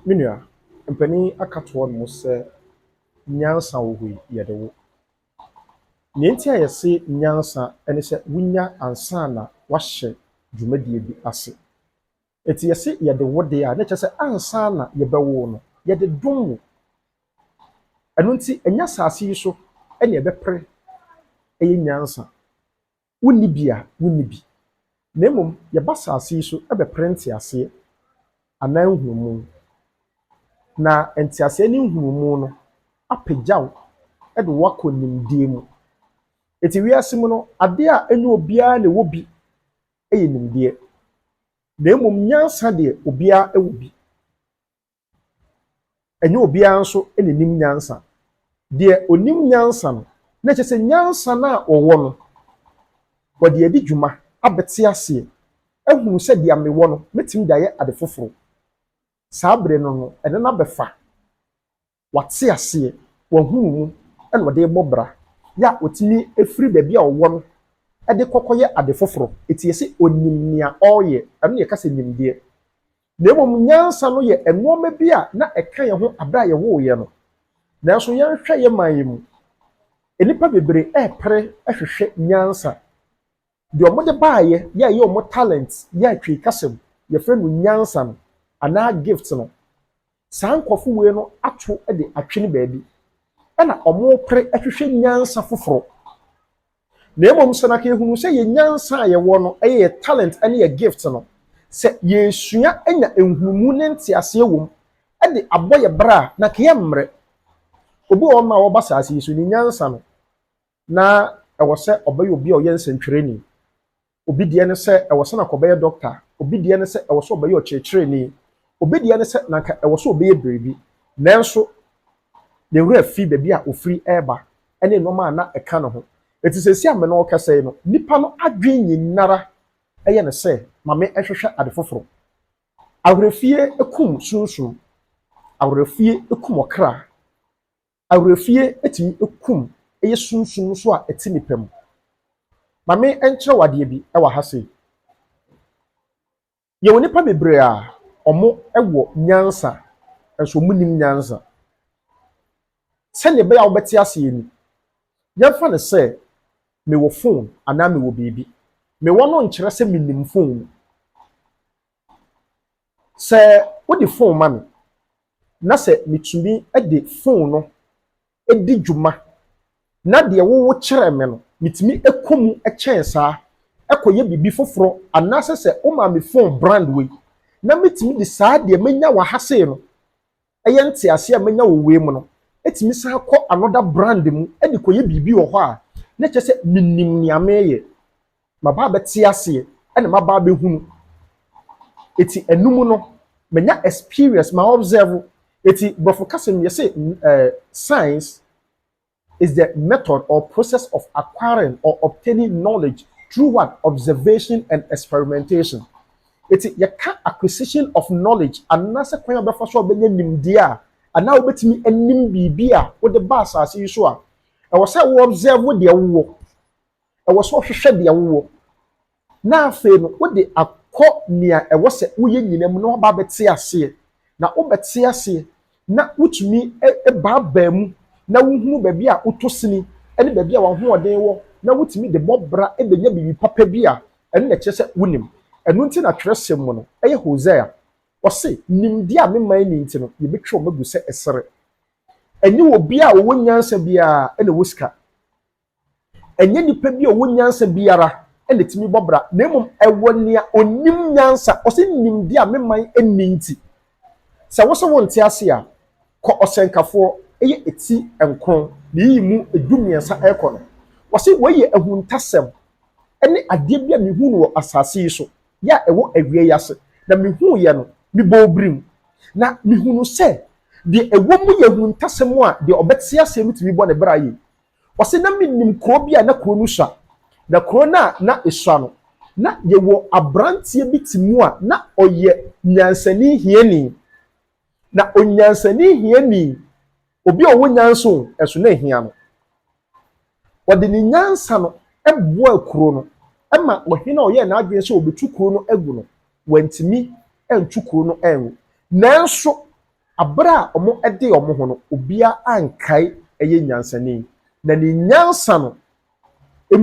Me nua, mpanin yi aka ato hɔ nom sɛ nyansa wɔ hɔ yi, yɛde wo. Nea nti a yɛse nyansa ne sɛ wonya ansa na woahyɛ dwumadie bi ase. Nti yɛse yɛde wo deɛ a, na ɛkyerɛ sɛ ansa na yɛbɛwo wo no, yɛde dom wo. Ɛno nti, ɛnyɛ asase yi so na yɛbɛpere, ɛyɛ nyansa. Wonni bi a wonni bi. Na mmom yɛba asase yi so bɛpere nteaseɛ anaa nhunumu. Na nteaseɛ ne nhunumu no apagya wo de wo akɔ nimdeɛ mu. Enti wiase mu no, adeɛ a ɛnyɛ obiara na ɛwɔ bi yɛ nimdeɛ. Na mmom nyansa deɛ, obiara wɔ bi. Ɛnyɛ obiara nso na ɛnim nyansa. Deɛ ɔnim nyansa no, na kyɛ sɛ nyansa no a ɔwɔ no, ɔde adi dwuma abɛte aseɛ, ahunu sɛ deɛ mewɔ no, mɛtumi de ayɛ ade foforɔ. Saa berɛ no no, ɛno no abɛfa. Wate aseɛ, wahunu mu, ɛna ɔde rebɔ bra. Yɛ a ɔtumi firi baabi a ɔwɔ no de kɔkɔyɛ ade foforɔ. Ɛti yɛse ɔnim nea ɔreyɛ, ɛno na yɛka sɛ nimdeɛ. Na mmom nyansa no yɛ nnoɔma bi a na ɛka yɛn ho berɛ a yɛwoo yɛn no. Nanso yɛnhwɛ yɛn man yi mu, nnipa bebree repere hwehwɛ nyansa. Deɛ wɔde baeɛ yɛ a ɛyɛ wɔn talent yɛ a Twi kasa mu yɛfrɛ no nyansa no anaa gift no. Saa nkurɔfo wei no ato de atwene baabi, ɛna wɔrepere hwehwɛ nyansa foforo. Na mmom sɛ na yɛhunu sɛ yɛn nyansa a yɛwɔ no yɛ yɛ talent ne yɛ gift no, sɛ yɛresua anya nhunumu ne nteaseɛ wɔ mu de abɔ yɛ bra a, na yɛmmrɛ. Obi wɔ hɔnom a ɔba saase yi so, ne nyansa no, Ná ɛwɔ sɛ ɔbɛyɛ obi a ɔyɛ nsɛntwerɛni, obi deɛ ne sɛ ɛwɔ sɛ na anka ɔbɛyɛ dɔkta, obi deɛ ne sɛ ɛwɔ sɛ ɔbɛyɛ ɔkyerɛkyerɛni, obi deɛ ne sɛ na anka ɛwɔ sɛ ɔbɛyɛ biribi. Nanso, ne werɛ fii baabi a ɔfiri reba ne nneɛma a na ɛka ne ho. Enti seesei a me ne wo rekasa yi no, nnipa no adwene nyinaa ara yɛ ne sɛ, Ma menhwehwɛ ade foforo. Awerɛfie kum sunsum, awerɛfie kum ɔkra. Awerɛfie tumi kum yɛ sunsum nso a ɛte nipa mu. Ma me nkyerɛ wo adeɛ bi wɔ ha sei. Yɛwɔ nnipa bebree a wɔwɔ nyansa nso wɔnnim nyansa. Sɛdeɛ ɛbɛyɛ a wobɛte aseɛ ni, yɛmfa no sɛ mewɔ phone anaa mewɔ biribi. Mewɔ no nkyerɛ sɛ menim phone no. Sɛ wode fon ma me na sɛ metumi de fon no di dwuma na deɛ wowo kyerɛ me no, metumi kɔ mu kyɛn saa kɔyɛ biribi foforɔ anaasɛ sɛ woma me fon brand wei na metumi de saa deɛ manya wɔ ha sei no Ɛyɛ ntease a manya wɔ wei mu no, etumi san kɔ another brand mu de kɔyɛ biribi wɔ hɔ a, na ɛkyerɛ sɛ minim nea mereyɛ. Maba abɛte aseɛ na maba abɛhunu. Eti ɛno mu no, manya experience, ma observe. Eti Borɔfo kasa mu yɛse eh, signs. is the method or process of acquiring or obtaining knowledge through what observation and experimentation eti yɛka acquisition of knowledge anaasɛ kwan a wɔbɛfa so a wɔbɛnya nimdeɛ a anaa wobɛtumi anim biribi a wode ba asase yi so a ɛwɔ sɛ wo observe deɛ wowɔ ɛwɔ sɛ ɔhwehwɛ deɛ wowɔ na afei no wode akɔ nea ɛwɔ sɛ woyɛ nyinaa mu na woaba abɛte aseɛ, na wobɛte aseɛ na wotumi baabaa mu na wohunu baabi a wotɔ sini ne baabi a w'ahoɔden wɔ na wotumi de bɔ bra bɛnya biribi papa bi a, ɛno na ɛkyerɛ sɛ wonim. Ɛno nti na twerɛsɛm mu no, ɛyɛ Hosea, ɔse, Nimdeɛ a mema nni nti no, yɛbɛtwa wɔn agu sɛ ɛserɛ. Ɛnyɛ obiara a ɔwɔ nyansa biara na ɔwɔ sika. Ɛnyɛ nipa bi a ɔwɔ nyansa biara na ɛtumi bɔ bra, na mmom ɛwɔ nea ɔnim nyansa. Ɔsɛ nimdeɛ a me man nni nti. Sɛ wo sɛ wonte ase a, kɔ ɔsɛnkafoɔ, ɛyɛ ɛti nkron, na yiyi mu ɛdu mmiɛnsa ɛrekɔ no. Ɔsɛ wei yɛ ahuntasɛm, ɛne adeɛ bi a mehuu no wɔ asase yi so, yɛ a ɛwɔ awia yi ase, na mehuuiɛ no, mebɔɔ birim, na mehunuu sɛ deɛ ɛwɔ mu yɛ ahuntasɛm a deɛ ɔbɛte aseɛ no tumi bɔ ne bra yie. Ɔse, na menim kuro bi a na kuro no sua. Na kuro no a na esua no, na yɛwɔ abranteɛ bi te mu a na ɔyɛ nyansani hiani. Na onyansani hiani, obi a ɔwɔ nyansa o, nso na ehia no. Ɔde ne nyansa no boaa kuro no ma ɔhene a ɔyɛɛ n'adwene sɛ ɔbɛtu kuro no agu no, wantumi antu kuro no angu. Nanso, Bere a wɔdee wɔn ho no, obiara ankae ɛyɛ nyansani, na ne nyansa no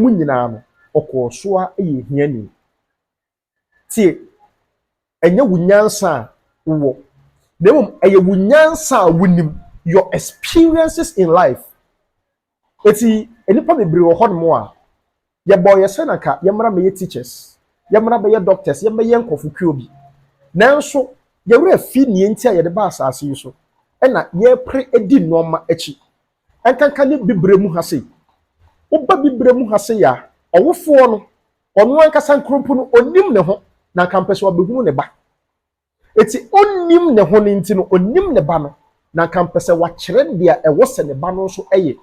mu nyinaa no, ɔkɔɔ so ara yɛ hiani. Tie! Ɛnyɛ wo nyansa a wowɔ, na mmom ɛyɛ wo nyansa a wunim, your experiences in life. Eti nnipa bebree wɔ hɔnom a yɛbɔɔ yɛn sɛ na anka yɛmmra mmɛyɛ teachers, yɛmmra bɛyɛ doctors, yɛmmɛyɛ nkurɔfo kuo bi. Nanso yɛn werɛ afi nea enti a yɛde baa asase yi so na yɛrepere adi nnoɔma akyi. Ɛnkanka ne bibire mu ha sei. Woba bibire mu ha sei a, ɔwofoɔ no, ɔno ankasa nkoronpo no, ɔnnim ne ho, na anka ɔmpɛ sɛ ɔbɛhunu ne ba. Enti onnim ne ho no nti no, onim ne Ba no, na anka mpɛ sɛ wakyerɛ nea ɛwɔ sɛ ne Ba no nso yɛ.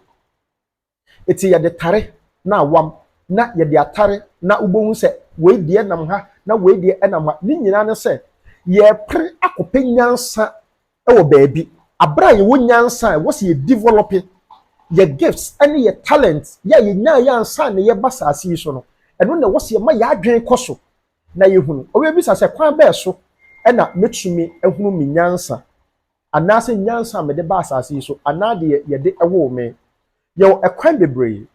Enti yɛde tare na awam na yɛde atare na wubehu sɛ wei deɛ nam ha na wei deɛ nam ha. Ne nyinaa ne sɛ yɛrepere akɔpɛ nyansa wɔ baabi. Bere a yɛwɔ nyansa a, ɛwɔ sɛ yɛ develope yɛ gifts ne yɛ talents yɛ a yɛnyaeɛ ansa na yɛreba asase yi so no, ɛno na ɛwɔ sɛ yɛma yɛn adwene kɔ so. na yɛhunu. Ɔbɛbisa sɛ, kwan bɛn so na mɛtumi ahunu me nyansa, anaasɛ nyansa a mede ba asase yi so, anaa deɛ yɛde woo me? Yɛwɔ ɛkwan bebree,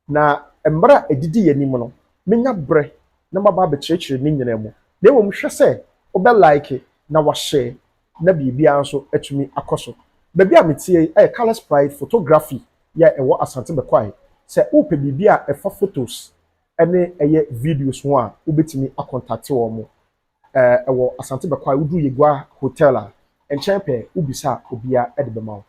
na mmerɛ a ɛdidi yɛn anim no, mɛnya berɛ na maba abɛkyerɛkyerɛ ne nyinaa mu. Na mmom hwɛ sɛ wobɛ like na washare na biribiara nso atumi akɔ so. Baabi a meteɛ yi yɛ Colours Pride Photography yi a ɛwɔ Asante Bɛkwae. Sɛ wopɛ biribi a ɛfa photos ɛne ɛyɛ videos ho a wobɛtumi akɔntakte wɔn. Ɛwɔ Asante Bɛkwae, woduru Yegua Hotel a, nkyɛn pɛɛ wobisa a obiara de bɛma wo.